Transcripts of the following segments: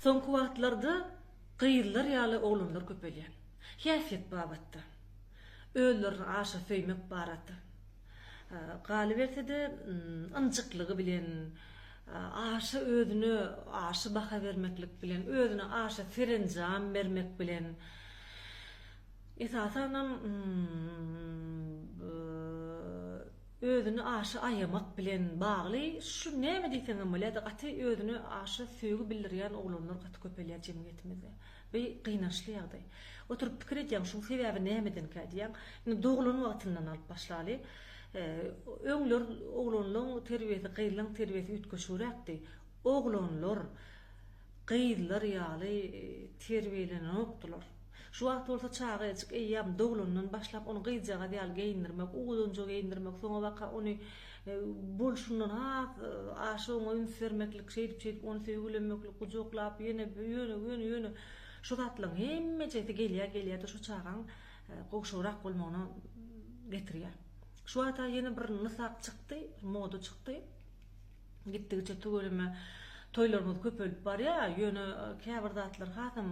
Soňky wagtlarda gyzlar ýaly oglanlar köpelýär. Häsiýet babatda, özlerini aşa söýmek barada, galyberse-de, ynjyklygy bilen, aşa özüne aşa baha bermeklik bilen, özüne aşa serenjam bermek bilen, esasanam, özüni aşa aýamak bilen bagly şu näme diýseňem bolýar-da gaty özüne aşa söýgi bildirýän oglanlar gaty köpelýär jemgyýetimizde. Bu gynançly ýagdaý. Oturyp pikir edýäň şuň sebäbi nämedenkä diýýäň. Indi doglan wagtyndan alyp başlaly. Öňler oglanlaň terbiýesi gyzlaň terbiýesi üýtgeşigräkdi. Oglanlar gyzlar ýaly terbiýelenenokdylar. Şu wagt bolsa çaga eýjik eýýäm doglandan başlap ony gyzjagaz ýaly geýindirmek, owuzanja geýindirmek, soňabaka ony bolşundan has aşa oňa üns bermeklik, şeýdip-şeýdip ony söýgülemeklik, gujaklap ýöne ýöne ýöne ýöne şu zatlaryň hemmejesi gelýär gelýär-de şu çagaň gowşagrak bolmagyna getirýär. Şu wagta ýene bir nysak çykdy, moda çykdy. Gitdigiçe tüweleme toýlarymyz köpelip barýar, ýöne käbir zatlar hasam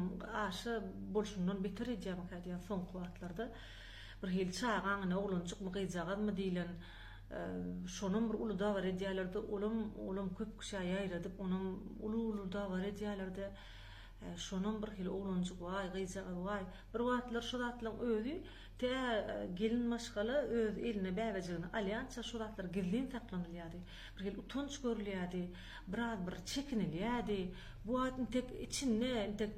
aşa bolşundan beter edýärmikä diýýän soňky wagtlarda. Birhili çagaň ine oglanjykmy, gyzjagazmy diýlen şonam bir uly dabar edýärler-de, olam, olam köp kişä ýaýradyp, onam uly-uly dabar edýärler-de, şonam birhili oglanjyk waý, gyzjagaz waý. Bir wagtlar şu zatlaryň özi Tä gelin maşgala öz eline bäbejigini alýança şu zatlar gizlin saklanylýardy. Birhili utanç görülýärdi, biraz bir çekinilýärdi. Bu wagt intek içinde, intek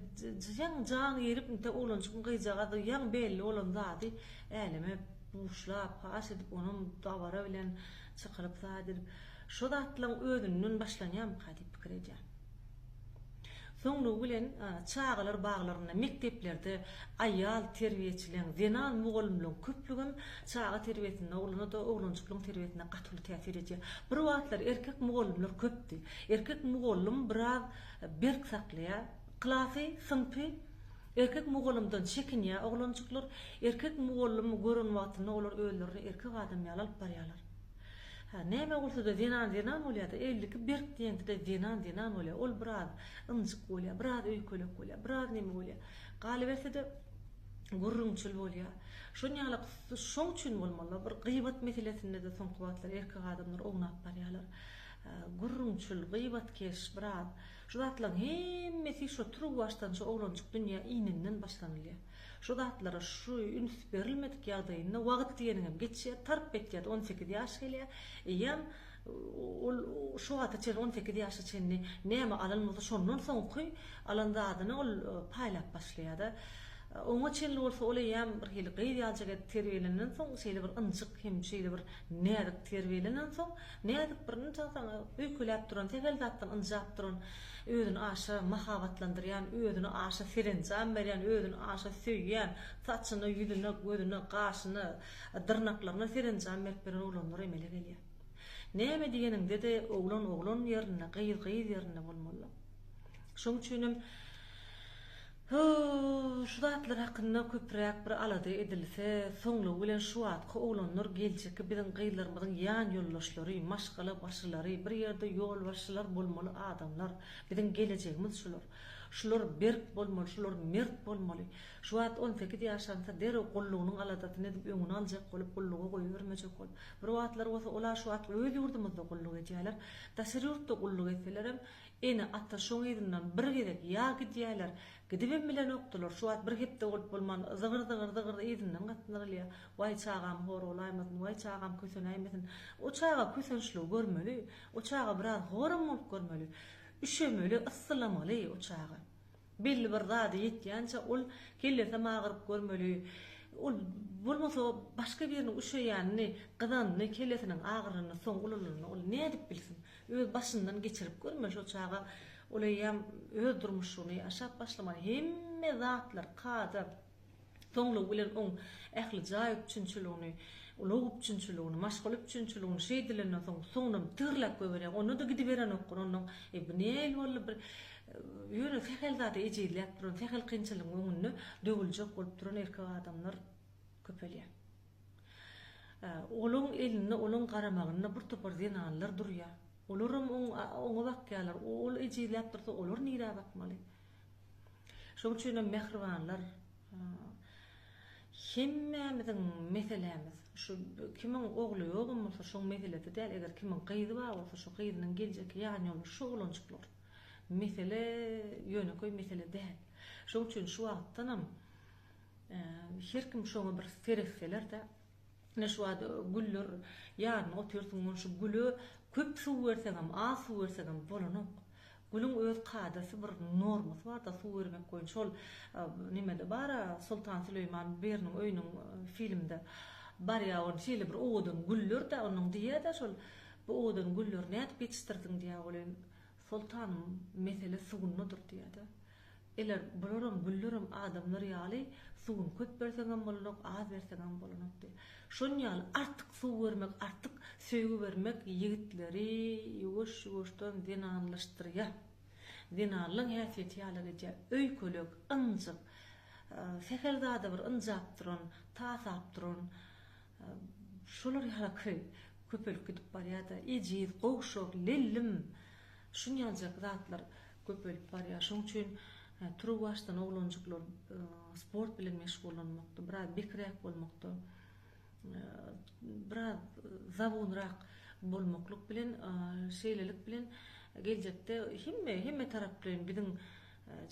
jan jan girip, inte oglanjygyň gyjagaz jan belli bolan zady äleme buşlap, paş edip, onam dabara bilen çykylyp zat edip, şo zatlaryň özünden başlanýarmyka diýip pikir edýän. Soňlugy bilen, çagalar baglarynda, mekdeplerde aýal terbiýeçileň, zenan mugallymlaryň köplügem çaga terbiýesinde, oglana-da, oglanjyklaryň terbiýesinde gaty uly täsir edýär. Bir wagtlar erkek mugallymlar köpdi. Erkek mugallym biraz berk saklaýar. Klasy, synpy erkek mugallymdan çekinýär oglanjyklar. Erkek mugallymy gören wagtynda olar özlerini erkek adam ýaly alyp barýarlar. Hä, näme bolsa-da zenan zenan bolýa-da, elli iki berk diýenki-de zenan zenan bolýa, ol biraz ynjyk bolýa, biraz öýkelek bolýa, biraz neme bolýa, galyberse-de gürrüňçil bolýa. Şonýalak şoň üçin bolmaly-la, bir gyýbat meselesinde-de soňky wagtlar erkek adamlar ownap barýarlar. Gürrüňçil, gyýbatkeş, biraz. Şu zatlaryň hemmesi şo turuwbaşdan şo oglanjyk dünýä ininden başlanylýa. Şu zatlara şu üns berilmedik ýagdaýynda wagyt diýeniňem geçýär, tarp etýär-de on sekiz ýaş gelýär. Eýýäm ol şu wagta çenli on sekiz ýaşa çenli näme alan bolsa şondan soňky alan zadyny ol paýlap başlaýar-da. Oňa çenli bolsa ol eýýäm birhili gyz ýaljak edip terbiýelenden soň şeýle bir ynjyk hem şeýle bir näzik terbiýelenensoň Näzik bir ynjalsaň, öýkeläp duran, sähel zatdan ynjap duran, özüni aşa mahabatlandyrýan, özüne aşa serenjam berýän, özüni aşa söýýän, saçyna, ýüzüne, gözüne, gaşyna, dyrnaklaryna serenjam berip ýören oglanlar emele gelýär. Näme diýeniňde-de oglan oglan ýerinde, gyz gyz ýerinde bolmalydyr. Şoň üçinem şu zatlar hakynda köpräk bir alada edilse, soňlugy bilen şu wagtky oglanlar geljekki biziň gyzlarymyzyň ýan ýoldaşlary, maşgala başylary, bir ýerde ýolbaşçylar bolmaly adamlar, biziň gelejegimiz şular. Şular berk bolmaly, şular mert bolmaly. Şu wagt on sekiz ýaşansa derrew gullugynyň aladasyny edip öňüni aljak bolup gulluga goýbermejek bolup. Bir wagtlar bolsa olar şu wagt öz ýurdumyzda gulluk edýärler. Daşary ýurtda gulluk etselerem Ene-ata şoň yzyndan bir gezek ýa gidýärler, gidibem bilenokdylar, şu wagt bir hepde bolup bolman, zygyr-zygyr-zygyr yzyndan gatnalýar. Waý çagam hor bolaýmasyn, waý çagam kösenäýmesin. O çaga kösençligi görmeli, o çaga biraz horam bolup görmeli. Üşemeli, yssylamaly o çaga. Belli bir zada ýetýänçä ol kellesem agyryp görmeli. Ol bolmasa başga biriniň üşeýänini, gyzanyny, kellesiniň agyranyny soň ululygyna ol nädip bilsin. Öz başyndan geçirip görme şo çaga ol eýýäm öz durmuşyny ýaşap başlamaly hemme zatlar kada soňlugy bilen oň ähli jaý üpjünçiligini ulag üpjünçiligini maşgala üpjünçiligini şeýdilenden soň soňunam tygyrlap goýberýär onda da gidiberenokgun onnoň e bu neýil boldy bir ýöne sähel zada ejizläp duran sähel kynçylygyň öňünde döwüljek bolup duran erkek adamlar köpelýär. Olaň elinde, olaň garamagynda bir topar zenanlar durýar. Olaram oňa bakýarlar. Ol ejizläp dursa, olar nirä bakmaly? Şoň üçinem mähribanlar, hemmämiziň meselämiz, şu kimiň ogly ýogam bolsa, şoň meselesi däl, eger kimiň gyzy bar bolsa, şu gyzynyň geljekki ýanýoldaşy şu oglanjyk bolar. Mesele ýönekeý mesele däl. Şoň üçin şu wagtdanam Her kim şoňa bir seretseler-de, ine şu wagt güller ýaryny otyrsyň, ony şu güle köp suw berseňem, az suw berseňem bolanok. Gülüň öz kadasy bir normasy bar-da suw bermek boýunça. Şol nemede bar-a, Soltan Süleýman biriniň öýüniň filmde barýa, ony şeýle bir owadan güller-de, onuň diýýä-de şol, bu owadan gülleri nädip ýetişdirdiň diýýä, welin, Soltanym mesele sugundadyr diýýä-de. Eler, bularam, güllaram adamlar ýaly, suguny köp berseňem bolanok, az berseňem bolanok diýýä. Şon ýaly artyk suw bermek, artyk söýgi bermek ýigitleri ýuwaş-ýuwaşdan zenanlaşdyrýa. Zenanlaň häsiýeti ýala gidýä. Öýkelek, ynjyk, sähel zada bir ynjap duran, tasap duran, Şolar ýalaky köpelip gidip barýada ejiz, gowşak, lellim şunýaljak zatlar köpelip barýa. Şoň üçin turuwbaşdan oglanjyklar sport bilen meşgullanmakda, biraz bekiräk bolmakda, biraz zabunrak bolmaklyk bilen, şeýlelik bilen geljekde hemme hemmetaraplaýyn biziň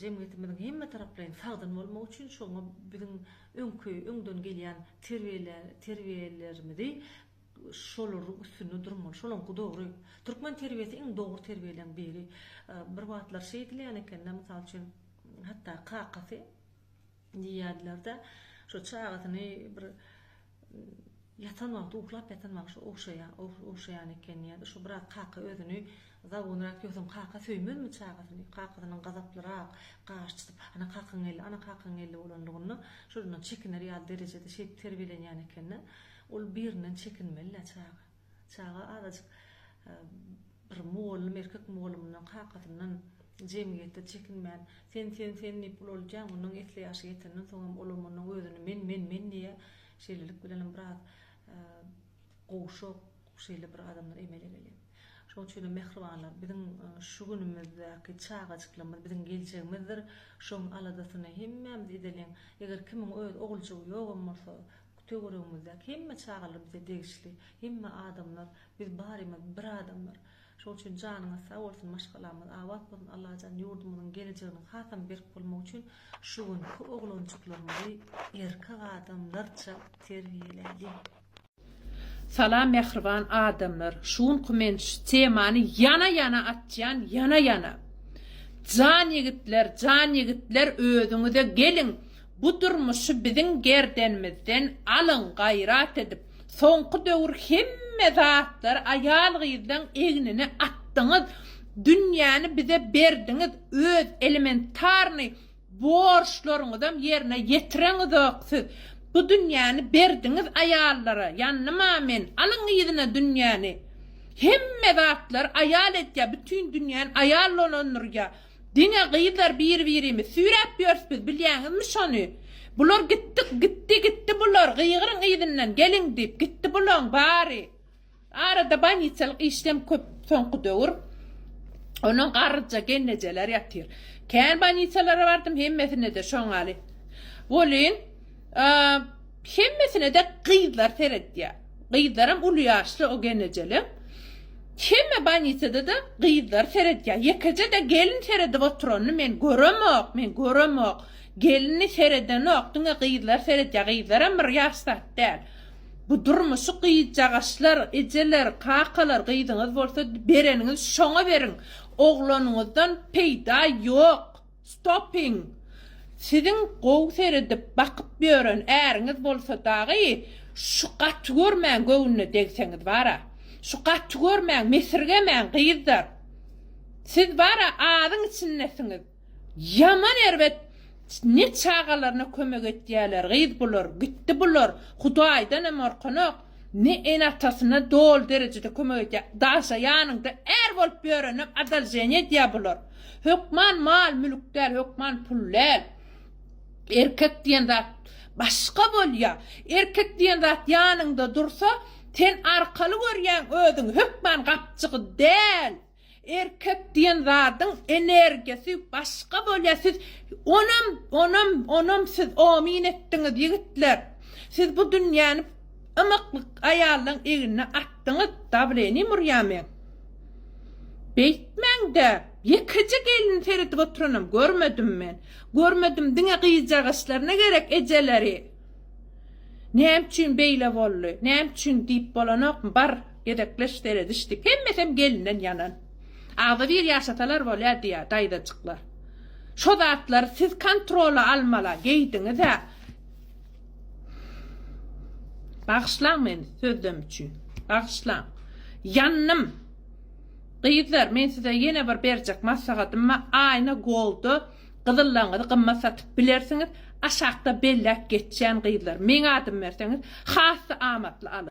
Jemgyýetimiziň hemmetaraplaýyn sagdyn bolmagy üçin şoňa biziň öňki öňden gelýän terbiýelerimizi şolaryň üstünde durmaly. Şolaňky dogry. Türkmen terbiýesi iň dogry terbiýeleň biri. Bir wagtlar şeýdilýän eken-de, mysal üçin, hatda kakasy diýýärdiler-de, şo çagasyny bir Ýatan wagty uklap ýatan bagşy ogşaýan eken diýýärdi. Şo biraz kaka özüni zawunrak ýogsam kaka söýmezmi çagasyny. Kakasynyň gazaplyrak, gaş çytyp, Ana kakaň geldi, ana kakaň geldi bolanlygynda şolardan çekiner ýaly derejede şeýdip terbiýelenýän eken-de. Ol birinden çekinmeli-dä çaga. Çaga azajyk bir mugallym erkek mugallymyndan, kakasyndan jemgyýetde çekinmän, Sen, sen, sen diýip ulaldýar. Onnoň esli ýaşy ýetenden soň hem olam onnoň özüni men, men, men diýýär. Şeýlelik bilen hem biraz gowşak şeýle bir adamlar emele gelýär. Şoň üçin hem mähribanlar, biziň şu günümizdäki çagajyklarymyz biziň geljegimizdir. Şoň aladasyny hemmämiz edeliň. Eger kimiň öz oguljygy ýogam bolsa, Töweregimizdäki hemme çagalar bize degişli, hemme adamlar, biz barymyz bir adamlar. Şoň üçin janyňyz sag bolsun, maşgalamyz abat bolsun, Allajan ýurdumyzyň gelejeginiň hasam berk bolmagy üçin şu günki oglanjyklarymyzy erkek adamlarça terbiýeläýiň. Salam mähriban adamlar şu günki men şu temany ýana ýana açýan ýana ýana. Jan ýigitler jan ýigitler özüňize geliň Bu durmuşy biziň gerdenimizden alyň gaýrat edip soňky döwür hemme zatlary aýal gyzlaň egnine atdyňyz dünýäni bize berdiňiz öz elementarnyý borçlaryňyzam ýerine ýetireňizok siz bu dünýäni berdiňiz aýallara ýandyma men alyň yzyna dünýäni hemme zatlary aýal edýä bütin dünýäni aýal dolandyrýa. Diňe gyzlar bir-birimiz süýräp ýörüs biz, bilýäňizmi şony? Bular gitdik, gitdi, gitdi bular, gygyryň yzyndan, geliň diýip, gitdi bulaň bary. Arada bolniçalyk işlem köp soňky döwür. Onuň garryja gelnejeler ýatyr. Kän bolniçalara bardym, hemmesinde-de şoňaly. Welin, Hemmesine-de gyzlar seretýär. Gyzlaram uly ýaşly o genejelem. Hemme bannisada-da gyzlar seretýär. Ýekeje-de gelin seredip oturanyny men göremok, men göremok. Gelini seredenok, diňe gyzlar seretýär. Gyzlaram bir ýaş zat däl. Bu durmuşy gyzjagaşlar, ejeler, kakalar, gyzyňyz bolsa bereniňiz şoňa beriň. Oglanyňyzdan peýda ýok. Stopping! Siziň gowy seredip, bakyp ýören äriňiz bolsa dagy, şu gaty görmäň göwnüne degseňiz bara. Şu gaty görmäň, mesirgemäň gyzlar. Siz bara azyň içindesiňiz. Ýaman erbet ne çagalaryna kömek etýäler gyz bular, gitdi bular, hudaýdanam orkanok. Ne ene-atasyna doly derejede kömek edýä. Daşa ýanyňda är bolup ýörenem adalženýe edýä bular. Hökman mal-mülk däl, hökman pul däl. Erkek diýen zat başga bolýa. Erkek diýen zat ýanyňda dursa, sen arkaly görýäň özüňi, hökman gapjygy däl. Erkek diýen zadyň energiýasy başga bolýar siz onam onam onam siz omyn etdiňiz ýigitler siz bu dünýäni ymyklyk aýallaň egnine atdyňyz dablenim urýan men beýtmäňdä ýekeje gelin seredip oturanam görmedim men görmedim diňe gyjagaslaryna gerek ejeleri näme üçin beýle boldy näme üçin diýip bolanokmy bar Gezekleş seredişdik. Hemmesem gelinden ýanan. Agzybir ýaşasalar bolýa diýýä daýzajyklar. Şo zatlary siz kontrola almala geýdiňizä. Bagyşlaň meni sözlem üçin. Bagyşlaň. Ýandym. Gyzlar men size ýene bir berjek maslahatym bar. Aýna Gold-da gyzyllaňyzy gymmat satyp bilersiňiz. Aşakda belläp geçýän gyzlar. Meň adym berseňiz has-da amatly alyň.